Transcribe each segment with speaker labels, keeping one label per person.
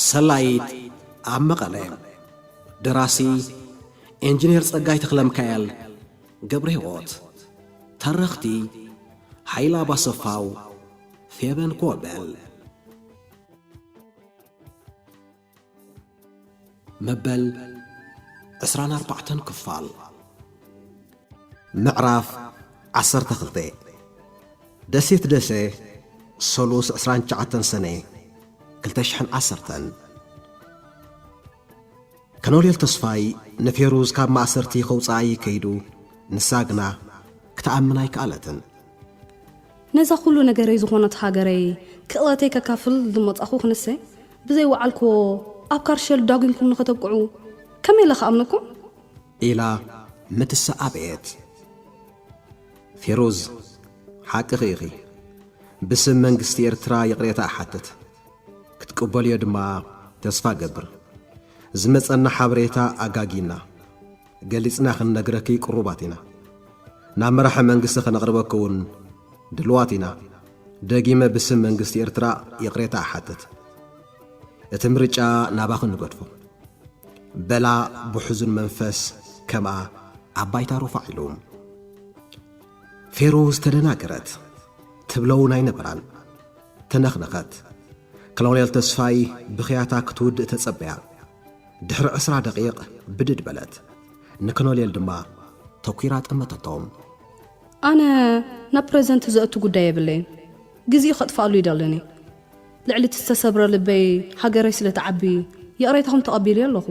Speaker 1: ሰላዪት ኣብ መቐለ ደራሲ ኢንጂነር ጸጋይ ተኽለ ሚካኤል ገብረ ህይወት ተረኽቲ ሓይላ ባሰፋው ፌበን ኮበል መበል ዕስራን ኣርባዕተን ክፋል ምዕራፍ ዓሰርተ ክልተ ደሴት ደሴ ሰሉስ ዕስራን ትሽዓተን ሰነ ክልተ ሽሕን ዓሰርተን ከሎኔል ተስፋይ ንፌሩዝ ካብ ማእሰርቲ ከውጽኣ እዪ ከይዱ ንሳ ግና ክትኣምን ኣይከኣለትን።
Speaker 2: ነዛ ኩሉ ነገረይ ዝኾነት ሃገረይ ክእለተይ ከካፍል ዝመጻኹ ክንሰ ብዘይ ወዓልክዎ ኣብ ካርሸል ዳጒንኩም ንኸተብቅዑ ከመይ ኢለ ክኣምነኩም? ኢላ
Speaker 1: ምትሳ ኣበየት። ፌሩዝ ሓቅኺ ኢኺ ብስም መንግስቲ ኤርትራ ይቕሬታ እሓትት። ክትቅበልዮ ድማ ተስፋ እገብር። ዝመጸና ሓበሬታ ኣጋጊና ገሊጽና ክንነግረኪ ቅሩባት ኢና። ናብ መራሒ መንግስቲ ከነቕርበኪ እውን ድልዋት ኢና። ደጊመ ብስም መንግስቲ ኤርትራ ይቕሬታ እሓትት። እቲ ምርጫ ናባኺ ንገድፎ። በላ ብሕዙን መንፈስ ከምኣ ኣብ ባይታ ሩፋዕ ኢሉ። ፌሩዝ ተደናገረት። ትብለውን ኣይነበራን። ተነኽነኸት። ኮሎኔል ተስፋይ ብኽያታ ክትውድእ ተጸበያ። ድሕሪ ዕስራ ደቒቕ ብድድ በለት። ንኮሎኔል ድማ ተኲራ ጠመተቶም። ኣነ
Speaker 2: ናብ ፕረዘንት ዘእቱ ጉዳይ የብለይን። ግዜኡ ከጥፍኣሉ እይደልን እየ። ልዕሊ እቲ ዝተሰብረ ልበይ ሃገረይ ስለ ትዓቢ ይቕሬታኹም ተቐቢለዮ ኣለኹ።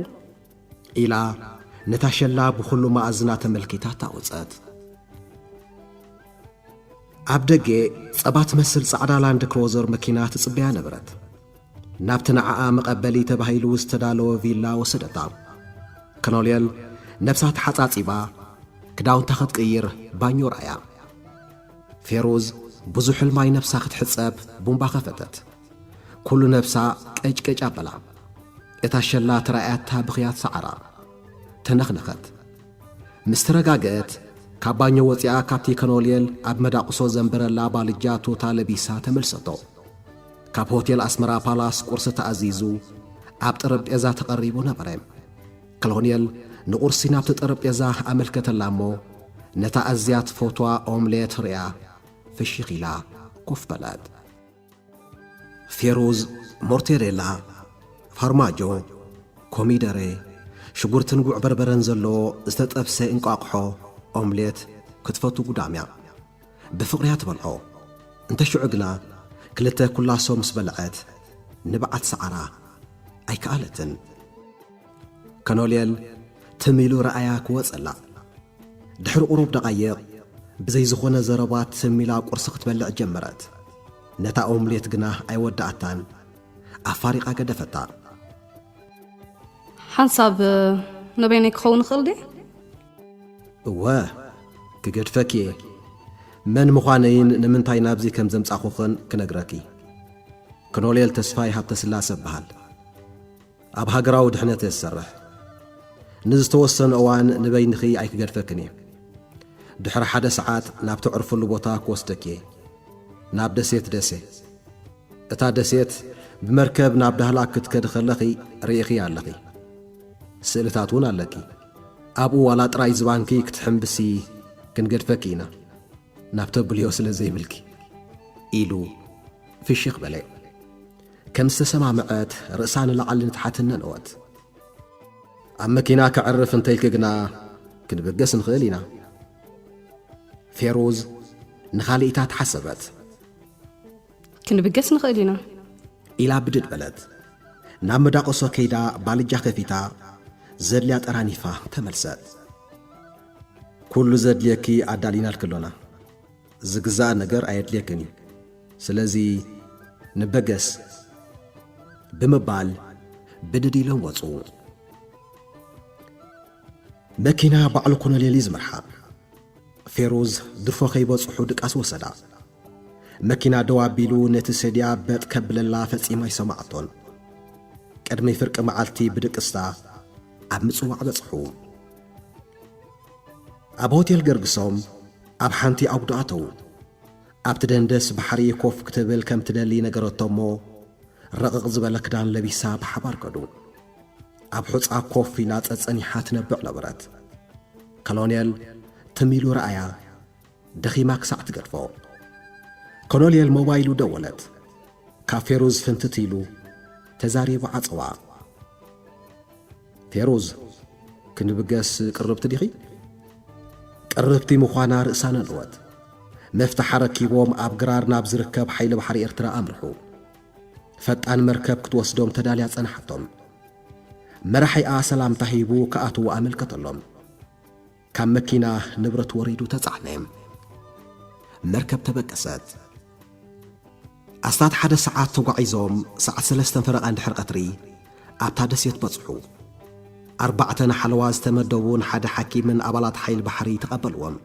Speaker 2: ኢላ
Speaker 1: ነታ ሸላ ብኹሉ መኣዝና ተመልኪታ ታቝጸት። ኣብ ደገ ጸባ ትመስል ጻዕዳ ላንድ ክሮዘር መኪና ትጽበያ ነበረት። ናብቲ ንዓኣ መቐበሊ ተባሂሉ ዝተዳለወ ቪላ ወሰደታ። ከኖልየል ነብሳ ተሓጻጺባ ክዳውንታ ክትቅይር ባኞ ረኣያ። ፌሩዝ ብዙሕ ሕልማይ ነብሳ ክትሕጸብ ቡምባ ከፈተት። ኩሉ ነብሳ ቀጭቀጭ ኣበላ። እታ ሸላ ተራእያታ ብኽያት ሰዓራ ተነኽነኸት። ምስ ተረጋገእት ካብ ባኞ ወጺኣ ካብቲ ከኖልየል ኣብ መዳቕሶ ዘንበረላ ባልጃ ቱታ ለቢሳ ተመልሰቶ። ካብ ሆቴል ኣስመራ ፓላስ ቁርሲ ተኣዚዙ ኣብ ጠረጴዛ ተቐሪቡ ነበረ። ከሎንየል ንቁርሲ ናብቲ ጠረጴዛ ኣመልከተላ እሞ ነታ ኣዝያ ትፈትዋ ኦምሌት ርእያ ፍሽኽ ኢላ ኮፍ በለት። ፌሩዝ፣ ሞርቴሬላ፣ ፋርማጆ፣ ኮሚደረ፣ ሽጉርትን ጉዕ በርበረን ዘለዎ ዝተጠብሰ እንቋቑሖ፣ ኦምሌት፣ ክትፈቱ ጉዳም'ያ። ብፍቕሪ'ያ ትበልዖ። እንተ ሽዑ ግና ክልተ ኩላሶ ምስ በልዐት ንብዓት ሰዓራ። ኣይከኣለትን። ከኖልየል ትም ኢሉ ረኣያ ክወጸላ ድሕሪ ቁሩብ ደቓይቕ ብዘይ ዝኾነ ዘረባ ትም ኢላ ቁርሲ ክትበልዕ ጀመረት ነታ ኦምሌት ግና ኣይወዳኣታን ኣፋሪቓ ገደፈታ
Speaker 2: ሓንሳብ ነበይነይ ክኸውን ይኽእል ድየ
Speaker 1: እወ ክገድፈኪ እየ መን ምዃነይን ንምንታይ ናብዚ ከም ዘምጻኹኽን ክነግረኪ ክኖሌል ተስፋይ ሃብተስላሰ በሃል ኣብ ሃገራዊ ድሕነት እየ ዝሰርሕ። ንዝተወሰነ እዋን ንበይንኺ ኣይክገድፈክን እየ። ድሕሪ ሓደ ሰዓት ናብ ተዕርፍሉ ቦታ ክወስደኪ እየ። ናብ ደሴት ደሴ። እታ ደሴት ብመርከብ ናብ ዳህላክ ክትከዲ ከለኺ ርኢኺ ኣለኺ። ስእልታት እውን ኣለኪ። ኣብኡ ዋላ ጥራይ ዝባንኪ ክትሕምብሲ ክንገድፈኪ ኢና፣ ናብ ተብልዮ ስለ ዘይብልኪ። ኢሉ ፍሽኽ በለ። ከም ዝተሰማምዐት ርእሳ ንላዕሊ ንታሕቲ እነነወት። ኣብ መኪና ከዕርፍ እንተኢልኪ ግና ክንብገስ ንኽእል ኢና። ፌሩዝ ንኻልኢታት ሓሰበት። ክንብገስ
Speaker 2: ንኽእል ኢና። ኢላ ብድድ
Speaker 1: በለት። ናብ መዳቕሶ ከይዳ ባልጃ ከፊታ ዘድልያ ጠራኒፋ ተመልሰት። ኩሉ ዘድልየኪ ኣዳሊናልኪ ኣሎና። ዝግዛእ ነገር ኣየድልየክን እዩ ስለዚ ንበገስ ብምባል ብድድ ኢሎም ወፁ መኪና ባዕሉ ኮነሌሊ ዝመርሓ ፌሩዝ ድፎ ከይበጽሑ ድቃስ ወሰዳ መኪና ደው ኣቢሉ ነቲ ሰድያ በጥ ከብለላ ፈጺማ ኣይሰማዕቶን ቅድሚ ፍርቂ መዓልቲ ብድቅስታ ኣብ ምጽዋዕ በጽሑ ኣብ ሆቴል ገርግሶም ኣብ ሓንቲ ኣጕዶ ኣተዉ። ኣብቲ ደንደስ ባሕሪ ኮፍ ክትብል ከም ትደሊ ነገረቶ'ሞ ረቕቕ ዝበለ ክዳን ለቢሳ ብሓባር ከዱ። ኣብ ሑጻ ኮፍ ኢላ ጸጸኒሓ ትነብዕ ነበረት። ከሎኔል ትም ኢሉ ረኣያ። ደኺማ ክሳዕ ትገድፎ። ኮሎኔል ሞባይሉ ደወለት። ካብ ፌሩዝ ፍንትት ኢሉ ተዛሪቡ ዓጸዋ። ፌሩዝ ክንብገስ ቅርብቲ ዲኺ? ቅርብቲ ምዃና ርእሳ ነንወት። መፍትሕ ኣረኪቦም ኣብ ግራር ናብ ዝርከብ ሓይሊ ባሕሪ ኤርትራ ኣምርሑ። ፈጣን መርከብ ክትወስዶም ተዳልያ ጸንሓቶም። መራሒኣ ሰላምታ ሂቡ ክኣትዉ ኣመልከተሎም። ካብ መኪና ንብረት ወሪዱ ተጻዕነ። መርከብ ተበገሰት። ኣስታት ሓደ ሰዓት ተጓዒዞም ሰዓት ሰለስተን ፈረቓን ድሕሪ ቐትሪ ኣብታ ደሴት በጽሑ። ኣርባዕተ ንሓለዋ ዝተመደቡን ሓደ ሓኪምን ኣባላት ሓይሊ ባሕሪ ተቐበልዎም።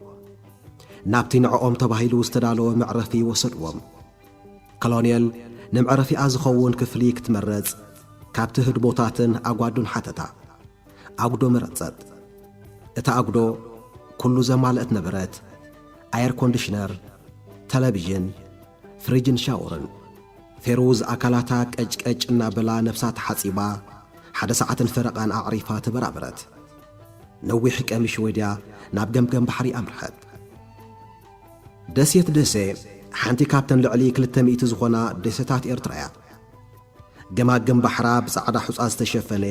Speaker 1: ናብቲ ንዕኦም ተባሂሉ ዝተዳለወ መዕረፊ ወሰድዎም። ከሎኔል ንመዕረፊኣ ዝኸውን ክፍሊ ክትመረጽ ካብቲ ህድሞታትን ኣጓዱን ሓተታ። ኣጉዶ መረጸት። እታ ኣጉዶ ኩሉ ዘማልእት ነበረት፣ ኣየር ኮንዲሽነር፣ ተለቪዥን፣ ፍሪጅን ሻወርን። ፌሩዝ ኣካላታ ቀጭ ቀጭ እናበላ ነብሳ ተሓጺባ ሓደ ሰዓትን ፈረቓን ኣዕሪፋ ተበራበረት። ነዊሕ ቀሚ ሽወድያ ናብ ገምገም ባሕሪ ኣምርሐት። ደሴት ደሴ ሓንቲ ካብተን ልዕሊ ክልተ ሚእቲ ዝኾና ደሴታት ኤርትራ'ያ። ገማግም ባሕራ ብጻዕዳ ሑጻ ዝተሸፈነ፣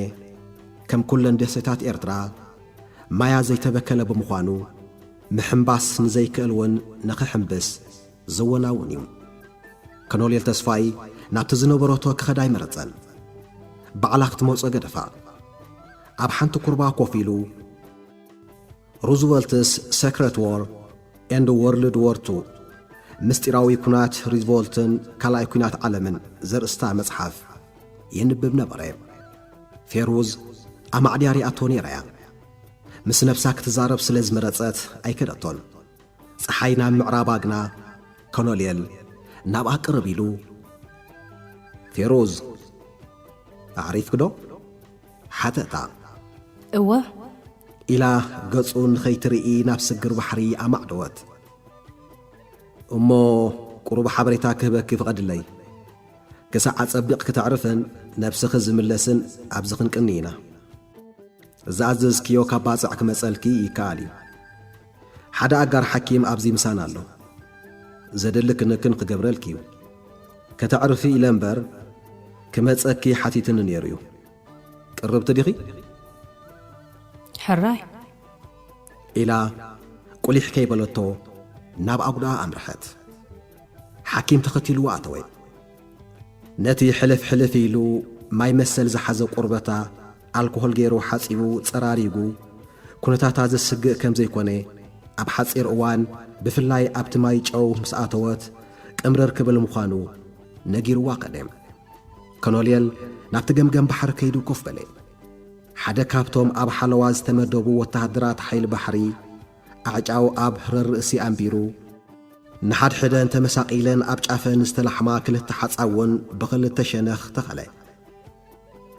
Speaker 1: ከም ኩለን ደሴታት ኤርትራ ማያ ዘይተበከለ ብምዃኑ፣ ምሕምባስ ንዘይክእል እውን ንኽሕምብስ ዘወናውን እዩ። ከኖልየል ተስፋይ ናብቲ ዝነበረቶ ክኸድ ኣይመረጸን። ባዕላ ክትመጾ ገደፋ። ኣብ ሓንቲ ኩርባ ኮፍ ኢሉ፣ ሩዝቨልትስ ሰክረት ዎር ኤንድ ዎርልድ ዎር ቱ፣ ምስጢራዊ ኩናት ሪዝቮልትን ካልኣይ ኩናት ዓለምን፣ ዘርእስታ መጽሓፍ የንብብ ነበረ። ፌሩዝ ኣማዕድያ ሪኣቶ ነይራ'ያ። ምስ ነብሳ ክትዛረብ ስለ ዝመረጸት ኣይከደቶን። ጸሓይ ናብ ምዕራብ ኣግና ኮሎኔል ናብኣ ቅርብ ኢሉ፣ ፌሩዝ ኣዕሪፍኪ'ዶ? ሓተታ
Speaker 2: እወ
Speaker 1: ኢላ ገጹ ንኸይትርኢ ናብ ስግር ባሕሪ ኣማዕደወት። እሞ ቁሩብ ሓበሬታ ክህበኪ ፍቐድለይ። ክሳዕ ኣጸቢቕኪ ተዕርፍን ነብስኺ ዝምለስን ኣብዚ ክንቅኒ ኢና። ዝኣዘዝክዮ ካብ ባጽዕ ክመጸልኪ ይከኣል እዩ። ሓደ ኣጋር ሓኪም ኣብዚ ምሳና ኣሎ ዘድሊ ክንክን ክገብረልኪ ዩ ከተዕርፊ ኢለ እምበር ክመጸኪ ሓቲትኒ ነይሩ ዩ ቅርብቲ ዲኺ
Speaker 2: ሕራይ
Speaker 1: ኢላ ቁሊሕ ከይበለቶ ናብ ኣጉድኣ ኣምርሐት ሓኪም ተኸቲልዋ ኣተወ ነቲ ሕልፍ ሕልፍ ኢሉ ማይ መሰል ዝሓዘ ቁርበታ ኣልኮሆል ገይሩ ሓጺቡ ጸራሪጉ ኩነታታ ዘስግእ ከም ዘይኮነ ኣብ ሓጺር እዋን ብፍላይ ኣብቲ ማይ ጨው ምስ ኣተወት ቅምርር ክብል ምዃኑ ነጊርዋ ከደ። ከኖልየል ናብቲ ገምገም ባሕሪ ከይዱ ኮፍ በለ። ሓደ ካብቶም ኣብ ሓለዋ ዝተመደቡ ወተሃደራት ሓይሊ ባሕሪ ኣዕጫው ኣብ ህረር ርእሲ ኣንቢሩ፣ ንሓድሕደን ተመሳቂለን ኣብ ጫፈን ዝተላሕማ ክልተ ሓጻውን ብኽልተ ሸነኽ ተኸለ።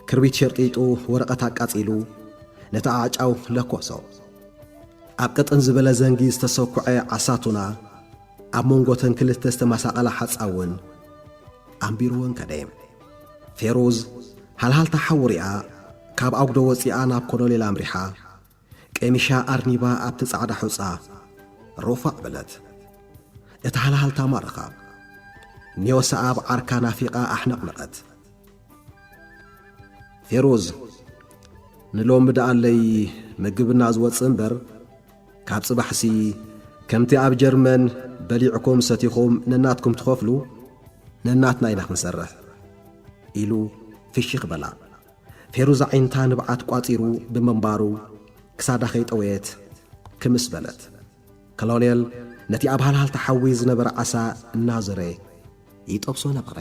Speaker 1: ክርቢት ሸርጢጡ ወረቐት ኣቃጺሉ ነቲ ኣዕጫው ለኮሶ። ኣብ ቅጥን ዝበለ ዘንጊ ዝተሰኩዐ ዓሳቱና ኣብ መንጎተን ክልተ ዝተመሳቐላ ሓጻውን ኣንቢሩወን ከደ። ፌሩዝ ሃልሃልታ ሓዊ ሪኣ ካብ ኣጉዶ ወጺኣ ናብ ኮሎኔል ኣምሪሓ። ቀሚሻ ኣርኒባ ኣብቲ ጻዕዳ ሑጻ ሮፋዕ በለት። እቲ ሃልሃልታ ማረኻ። ኔወሰኣብ ዓርካ ናፊቓ ኣሕነቕነቐት። ፌሩዝ ንሎሚ ደኣለይ ምግብና ዝወጽእ እምበር ካብ ጽባሕሲ ከምቲ ኣብ ጀርመን በሊዕኩም ሰቲኹም ነናትኩም ትኸፍሉ ነናትና ኢና ክንሰርሕ ኢሉ ፍሽኽ በላ። ፌሩዝ ኣዒንታ ንብዓት ቋጺሩ ብምንባሩ ክሳዳ ከይጠወየት ክምስ በለት። ከሎኔል ነቲ ኣብ ሃልሃልታ ሓዊ ዝነበረ ዓሳ እናዞረ ይጠብሶ ነበረ።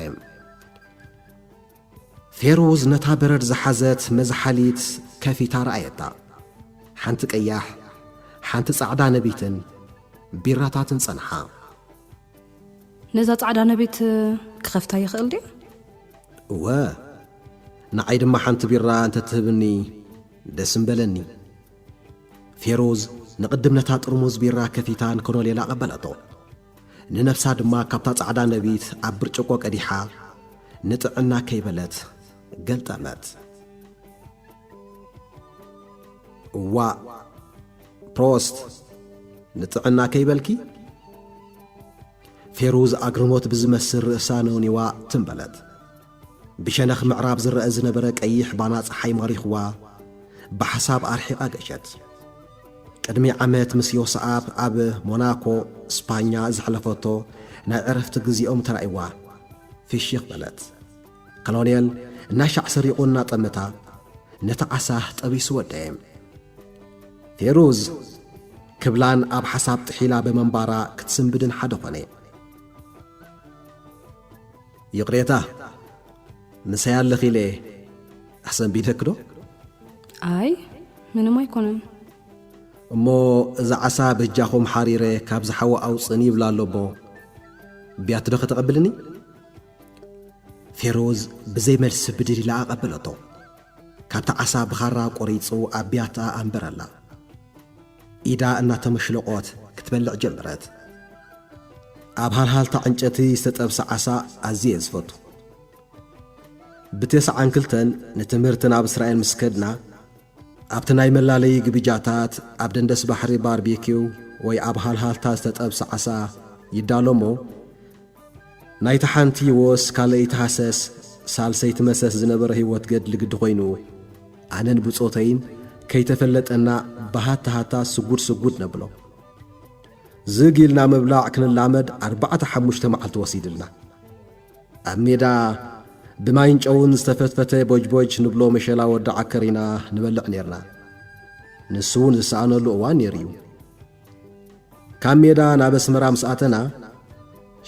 Speaker 1: ፌሩዝ ነታ በረድ ዝሓዘት መዝሓሊት ከፊታ ረኣየታ። ሓንቲ ቀያሕ፣ ሓንቲ ጻዕዳ ነቢትን ቢራታትን ጸንሓ።
Speaker 2: ነዛ ጻዕዳ ነቤት ክኸፍታ ይኽእል ድየ? እወ፣ ንዓይ ድማ ሓንቲ ቢራ እንተ ትህብኒ ደስ ምበለኒ። ፌሩዝ ንቕድም ነታ ጥርሙዝ ቢራ ከፊታ ንኮሎኔል ኣቐበለቶ። ንነብሳ ድማ ካብታ ጻዕዳ ነቢት ኣብ ብርጭቆ ቀዲሓ
Speaker 1: ንጥዕና ከይበለት ገልጠመት። እዋእ ፕሮስት ንጥዕና ከይበልኪ ፌሩዝ ኣግርሞት ብዝመስል ርእሳ ነውኒዋ ትም በለት። ብሸነኽ ምዕራብ ዝረአ ዝነበረ ቀይሕ ባና ፀሓይ ማሪኽዋ ብሓሳብ ኣርሒቓ ገሸት። ቅድሚ ዓመት ምስ ዮስኣብ ኣብ ሞናኮ ስፓኛ ዘሕለፈቶ ናይ ዕረፍቲ ግዜኦም ተራእይዋ ፍሽኽ በለት። ከሎኔል እናሻዕ ሰሪቑ እናጠመታ ነቲ ዓሳ ጠቢሱ ወደየ። ፌሩዝ ክብላን ኣብ ሓሳብ ጥሒላ ብምንባራ ክትስንብድን ሓደ ኾነ። ይቕሬታ ምሳይ ኣለኺ ኢለ ኣሰንቢደኪ ዶ? ኣይ
Speaker 2: ምንም ኣይኮነን። እሞ
Speaker 1: እዛ ዓሳ በጃኹም ሓሪረ ካብ ዝሓዊ ኣውፅእኒ ይብላ ኣሎ እሞ ብያቲ ዶ ከተቐብልኒ? ፌሮዝ ብዘይ መልሲ ብድድ ኢላ ኣቐበለቶ። ካብቲ ዓሳ ብኻራ ቆሪጹ ኣብ ቢያትኣ ኣንበረላ። ኢዳ እናተመሽለቖት ክትበልዕ ጀመረት። ኣብ ሃልሃልታ ዕንጨቲ ዝተጠብሰ ዓሳ ኣዝየ ዝፈቱ። ብተስዓን ክልተን ንትምህርቲ ናብ እስራኤል ምስ ከድና ኣብቲ ናይ መላለዪ ግብጃታት ኣብ ደንደስ ባሕሪ ባርቤኪው ወይ ኣብ ሃልሃልታ ዝተጠብሰ ዓሳ ይዳሎ እሞ ናይቲ ሓንቲ ወስ ካልኣይቲ ሃሰስ ሳልሰይቲ መሰስ ዝነበረ ህይወት ገድሊ ግዲ ኮይኑ ኣነን ብጾተይን ከይተፈለጠና ብሃታ ሃታ ስጉድ ስጉድ ነብሎ። ዝግ ኢልና ምብላዕ ክንላመድ ኣርባዕተ ሓሙሽተ መዓልቲ ወሲድልና። ኣብ ሜዳ ብማይን ጨውን ዝተፈትፈተ ቦጅቦጅ ንብሎ መሸላ ወዲ ዓከር ኢና ንበልዕ ኔርና። ንሱ እውን ዝሰኣነሉ እዋን ነይሩ እዩ። ካብ ሜዳ ናብ ኣስመራ ምስ ኣተና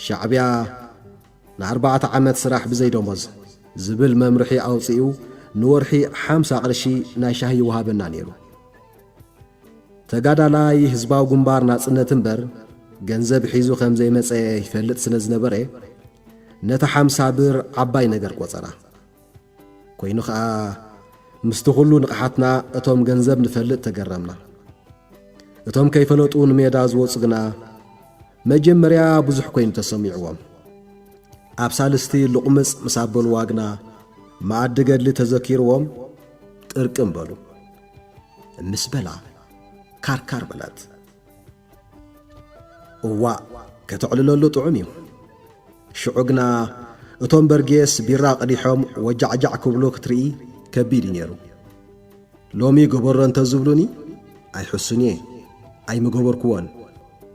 Speaker 1: ሻዕብያ ንኣርባዕተ ዓመት ስራሕ ብዘይ ደሞዝ ዝብል መምርሒ ኣውፂኡ ንወርሒ ሓምሳ ቅርሺ ናይ ሻሂ ይወሃበና ነይሩ። ተጋዳላይ ህዝባዊ ግንባር ናጽነት እምበር ገንዘብ ሒዙ ከም ዘይመጸ ይፈልጥ ስለ ዝነበረ ነታ ሓምሳ ብር ዓባይ ነገር ቆጸራ። ኮይኑ ከኣ ምስቲ ኩሉ ንቕሓትና እቶም ገንዘብ ንፈልጥ ተገረምና። እቶም ከይፈለጡ ንሜዳ ዝወጹ ግና መጀመርያ ብዙሕ ኮይኑ ተሰሚዕዎም። ኣብ ሳልስቲ ልቑምጽ ምስ ኣበልዋ ግና መኣዲ ገድሊ ተዘኪርዎም ጥርቅም በሉ። ምስ በላ ካርካር በለት። እዋእ ከተዕልለሉ ጥዑም እዩ። ሽዑ ግና እቶም በርጌስ ቢራ ቀዲሖም ወጃዕጃዕ ክብሉ ክትርኢ ከቢድ እዩ ነይሩ። ሎሚ ገበሮ እንተ ዝብሉኒ ኣይሕሱን እየ፣ ኣይምገበርክዎን።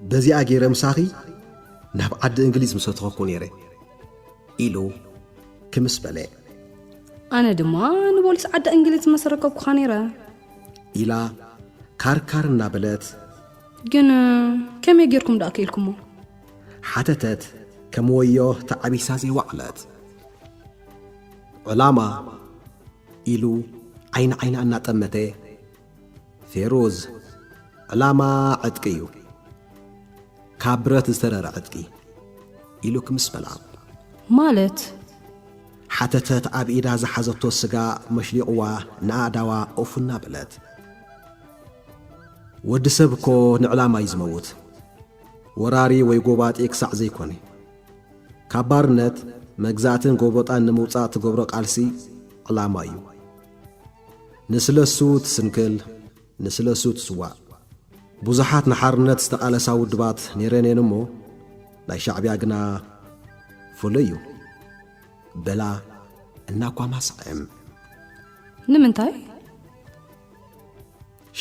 Speaker 1: በዚኣ ገይረ ምሳኺ ናብ ዓዲ እንግሊዝ ምሰተኸኩ ነይረ ኢሉ ክምስ በለ።
Speaker 2: ኣነ ድማ ንቦሊስ ዓዲ እንግሊዝ መሰረከብኩኻ ነይረ። ኢላ
Speaker 1: ካርካር እናበለት ግን
Speaker 2: ከመይ ጌርኩም ደኣ ክኢልኩሞ ሓተተት
Speaker 1: ከም ወዮ ተዓቢሳ ዘይወዕለት ዕላማ ኢሉ ዓይኒ ዓይና እናጠመተ ፌሩዝ ዕላማ ዕጥቂ እዩ ካብ ብረት ዝተረረ ዕጥቂ ኢሉ ክምስ በላ ማለት ሓተተት ኣብ ኢዳ ዝሓዘቶ ስጋ መሽሊቕዋ ንኣእዳዋ ኦፍና በለት ወዲ ሰብ እኮ ንዕላማ እዩ ዝመውት ወራሪ ወይ ጎባጢ ክሳዕ ዘይኮነ ካብ ባርነት መግዛእትን ጎበጣን ንምውፃእ ትገብሮ ቃልሲ ዕላማ እዩ ንስለሱ ትስንክል ንስለሱ ትስዋእ ብዙሓት ንሓርነት ዝተቓለሳ ውድባት ነይረን እየን እሞ ናይ ሻዕብያ ግና ፍሉይ እዩ በላ እናኳማስዐም
Speaker 2: ንምንታይ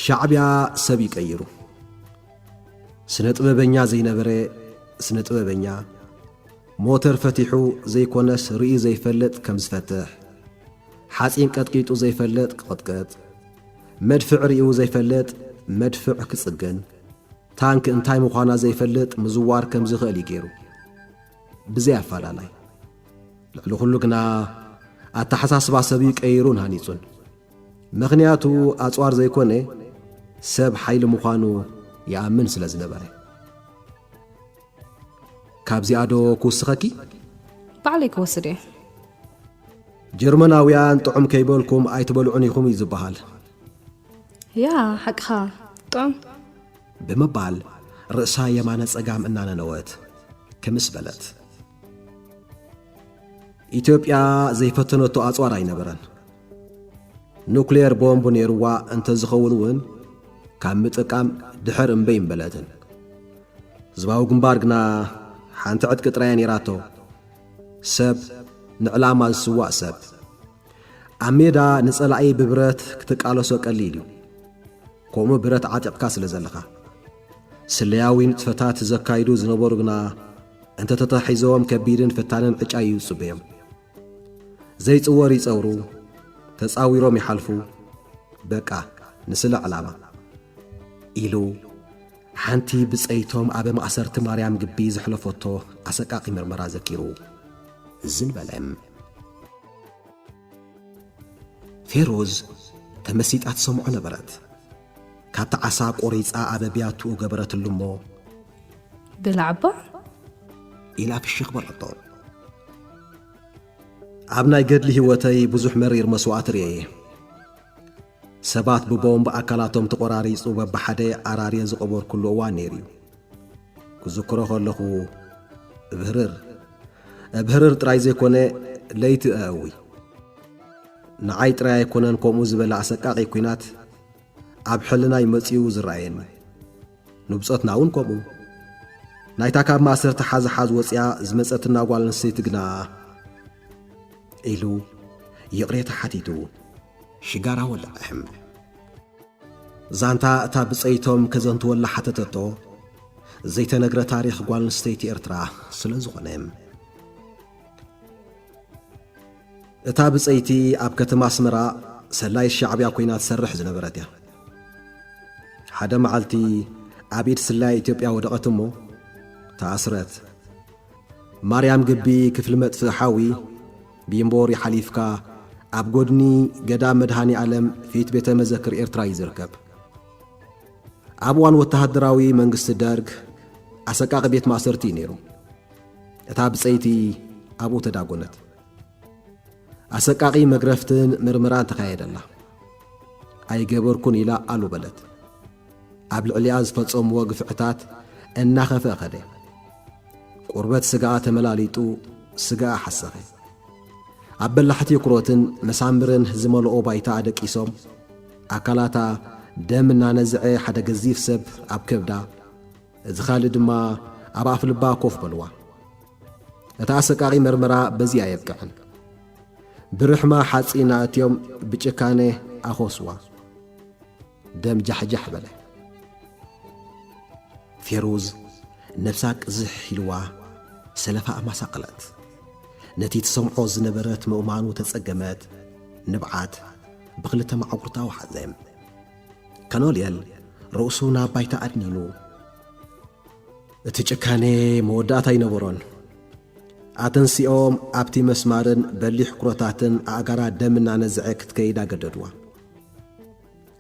Speaker 1: ሻዕብያ ሰብ ይቀይሩ ስነ ጥበበኛ ዘይነበረ ስነ ጥበበኛ ሞተር ፈቲሑ ዘይኮነስ ርእዩ ዘይፈልጥ ከም ዝፈትሕ ሓፂን ቀጥቂጡ ዘይፈልጥ ክቕጥቅጥ መድፍዕ ሪኡ ዘይፈልጥ መድፍዕ ክጽግን ታንክ እንታይ ምዃና ዘይፈልጥ ምዝዋር ከም ዝኽእል እዩ ገይሩ ብዘይ ኣፈላላይ ልዕሊ ዅሉ ግና ኣተሓሳስባ ሰብ እዩ ቀይሩን ሃኒጹን ምኽንያቱ ኣጽዋር ዘይኮነ ሰብ ሓይሊ ምዃኑ ይኣምን ስለ ዝነበረ ካብዚኣ ዶ ክውስኸኪ? ባዕለይ
Speaker 2: ክወስድ እየ። ጀርመናውያን
Speaker 1: ጥዑም ከይበልኩም ኣይትበልዑን ኢኹም እዩ ዝበሃል።
Speaker 2: ያ ሓቅኻ ጥዑም ብምባል
Speaker 1: ርእሳ የማነ ጸጋም እናነነወት ክምስ በለት። ኢትዮጵያ ዘይፈተነቶ ኣጽዋር ኣይነበረን። ኑክሌር ቦምብ ነይርዋ እንተዝኸውን እውን ካብ ምጥቃም ድሕር እምበይ እምበለትን። ህዝባዊ ግንባር ግና ሓንቲ ዕጥቂ ጥራያ ነይራቶ፣ ሰብ ንዕላማ ዝስዋእ ሰብ። ኣብ ሜዳ ንጸላኢ ብብረት ክትቃለሶ ቀሊል እዩ፣ ከምኡ ብረት ዓጢቕካ ስለ ዘለኻ። ስለያዊ ንጥፈታት ዘካይዱ ዝነበሩ ግና እንተ ተታሒዞም ከቢድን ፈታንን ዕጫ እዩ ዝጽበዮም። ዘይጽወር ይጸውሩ ተጻዊሮም ይሓልፉ በቃ ንስለ ዕላማ ኢሉ ሓንቲ ብጸይቶም ኣብ ማእሰርቲ ማርያም ግቢ ዘሕለፈቶ ኣሰቃቂ ምርመራ ዘኪሩ እዝን በለ። ፌሮዝ ተመሲጣ ትሰምዖ ነበረት። ካብቲ ዓሳ ቆሪጻ ኣበ ቢያቱኡ ገበረትሉ እሞ።
Speaker 2: ብላዕባ!
Speaker 1: ኢላ ፍሽኽ በለቶ። ኣብ ናይ ገድሊ ህይወተይ ብዙሕ መሪር መስዋእቲ ርእየ እየ። ሰባት ብቦምብ ኣካላቶም ተቖራሪጹ በብሓደ ኣራርየ ዝቐበርኩሉ እዋን ነይሩ እዩ። ክዝክሮ ከለኹ እብህርር እብህርር ጥራይ ዘይኮነ ለይቲ እእዊ። ንዓይ ጥራይ ኣይኮነን ከምኡ ዝበለ ኣሰቃቒ ኲናት ኣብ ሕልናይ መጺኡ ዝረኣየኒ ንብጾትና እውን ከምኡ ናይታ ካብ ማእሰርቲ ሓዝሓዝ ወፅያ ዝመፀትና ጓል ኣንስተይቲ ግና ኢሉ ይቕሬታ ሓቲቱ ሽጋራ ወልዐሕም ዛንታ እታ ብፀይቶም ከዘንትወላ ሓተተቶ ዘይተነግረ ታሪኽ ጓል ኣንስተይቲ ኤርትራ ስለ ዝኾነ እታ ብጸይቲ ኣብ ከተማ ኣስመራ ሰላዪት ሻዕብያ ኮይና ትሰርሕ ዝነበረት እያ። ሓደ መዓልቲ ኣብ ኢድ ስላዪ ኢትዮጵያ ወደቐት እሞ ተኣስረት። ማርያም ግቢ ክፍሊ መጥፍኢ ሓዊ ቢምቦሪ ሓሊፍካ ኣብ ጎድኒ ገዳም መድሃኒ ኣለም ፊት ቤተ መዘክር ኤርትራ እዩ ዝርከብ። ኣብ እዋን ወተሃደራዊ መንግስቲ ደርግ ኣሰቃቂ ቤት ማእሰርቲ እዩ ነይሩ። እታ ብጸይቲ ኣብኡ ተዳጎነት። ኣሰቃቂ መግረፍትን ምርምራን ተኻየደላ። ኣይገበርኩን ኢላ ኣሉ በለት። ኣብ ልዕሊኣ ዝፈጸምዎ ግፍዕታት እናኸፍአ ኸደ። ቁርበት ስጋኣ ተመላሊጡ ስጋኣ ሓሰኸ። ኣብ በላሕቲ ኩሮትን መሳምርን ዝመልኦ ባይታ ኣደቂሶም ኣካላታ ደም እናነዝዐ ሓደ ገዚፍ ሰብ ኣብ ከብዳ እዚ ኻልእ ድማ ኣብ ኣፍልባ ኮፍ በልዋ። እቲ ኣሰቃቒ መርመራ በዚ ኣየብቅዕን። ብርሕማ ሓጺን ኣእትዮም ብጭካነ ኣኾስዋ። ደም ጃሕጃሕ በለ። ፌሩዝ ነብሳ ቅዝሕ ኢልዋ ሰለፋ ኣማሳቐለት። ነቲ ትሰምዖ ዝነበረት ምእማኑ ተጸገመት። ንብዓት ብኽልተ ማዕጉርታ ወሓዘ። ከኖልየል ርእሱ ናብ ባይታ ኣድኒኑ እቲ ጭካነ መወዳእታ ኣይነበሮን። ኣተንሲኦም ኣብቲ መስማርን በሊሕ ኩረታትን ኣእጋራ ደም እናነዝዐ ክትከይድ ኣገደድዋ።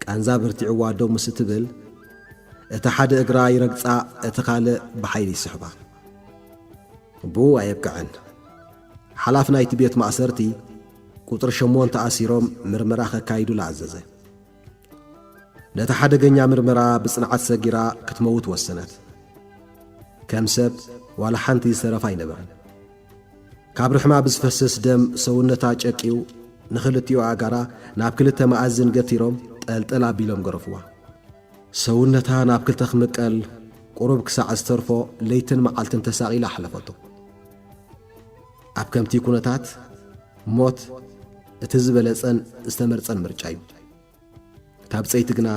Speaker 1: ቃንዛ በርቲዕዋ ደው ምስ እትብል እቲ ሓደ እግራ ይረግጻ፣ እቲ ካልእ ብሓይሊ ይስሕባ። ብኡ ኣየብቅዐን። ሓላፊ ናይቲ ቤት ማእሰርቲ ቁጽሪ ሸሞንተ ኣሲሮም ምርመራ ከካይዱላ ኣዘዘ። ነቲ ሓደገኛ ምርመራ ብጽንዓት ሰጊራ ክትመውት ወሰነት። ከም ሰብ ዋላ ሓንቲ ዝተረፋ ኣይነበረን። ካብ ርሕማ ብዝፈስስ ደም ሰውነታ ጨቅዩ ንኽልቲኡ ኣእጋራ ናብ ክልተ መኣዝን ገቲሮም ጠልጠል ኣቢሎም ገረፍዋ። ሰውነታ ናብ ክልተ ክምቀል ቁሩብ ክሳዕ ዝተርፎ ለይትን መዓልትን ተሳቒላ ኣሕለፈቶ። ኣብ ከምቲ ኩነታት ሞት እቲ ዝበለጸን ዝተመርጸን ምርጫ እዩ። እታ ብጸይቲ ግና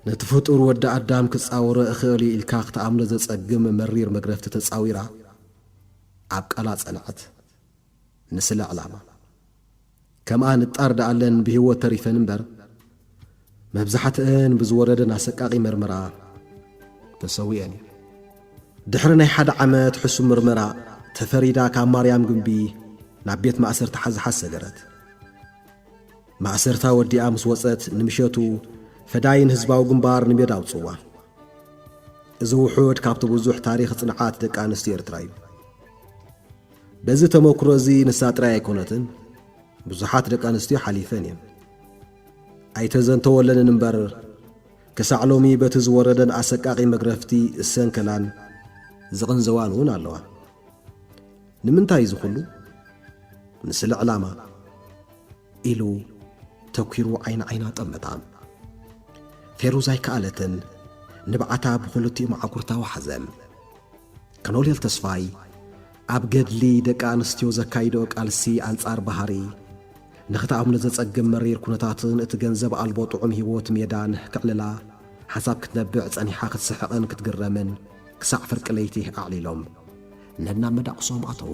Speaker 1: ነቲ ፍጡር ወዲ ኣዳም ክጻወሮ እኽእል እዩ ኢልካ ክትኣምኖ ዘጸግም መሪር መግረፍቲ ተጻዊራ ኣብ ቃላ ጸንዐት። ንስለ ዕላማ። ከምኣ ንጣር ደኣለን ብሂወት ተሪፈን እምበር መብዛሕትኣን ብዝወረደን ኣሰቃቂ መርመራ ተሰዊኤን እየን። ድሕሪ ናይ ሓደ ዓመት ሕሱም ምርመራ ተፈሪዳ ካብ ማርያም ግምቢ ናብ ቤት ማእሰርቲ ሓዝሓዝ ሰገረት። ማእሰርታ ወዲኣ ምስ ወጸት ንምሸቱ ፈዳይን ህዝባዊ ግንባር ንሜዳ ኣውጽዋ። እዚ ውሑድ ካብቲ ብዙሕ ታሪኽ ጽንዓት ደቂ ኣንስትዮ ኤርትራ እዩ። በዚ ተመክሮ እዚ ንሳ ጥራይ ኣይኮነትን ብዙሓት ደቂ ኣንስትዮ ሓሊፈን እየን ኣይተዘንተወለንን እምበር ክሳዕ ሎሚ በቲ ዝወረደን ኣሰቃቂ መግረፍቲ እሰንከላን ዝቕንዘዋን እውን ኣለዋ ንምንታይ እዚ ኹሉ ንስለ ዕላማ ኢሉ ተኲሩ ዓይኒ ዓይና ጠመታ ፌሩዝ ኣይከኣለትን ንብዓታ ብኽልቲኡ መዓኩርታ ወሓዘ ኮሎኔል ተስፋይ ኣብ ገድሊ ደቂ ኣንስትዮ ዘካይድኦ ቃልሲ ኣንጻር ባህሪ ንኽትኣምኖ ዘጸግም መሪር ኩነታትን እቲ ገንዘብ ኣልቦ ጥዑም ህይወት ሜዳን ከዕልላ ሓንሳብ ክትነብዕ ጸኒሓ ክትስሕቕን ክትግረምን ክሳዕ ፍርቂ ለይቲ ኣዕሊሎም ነናብ መዳቕሶም ኣተዉ።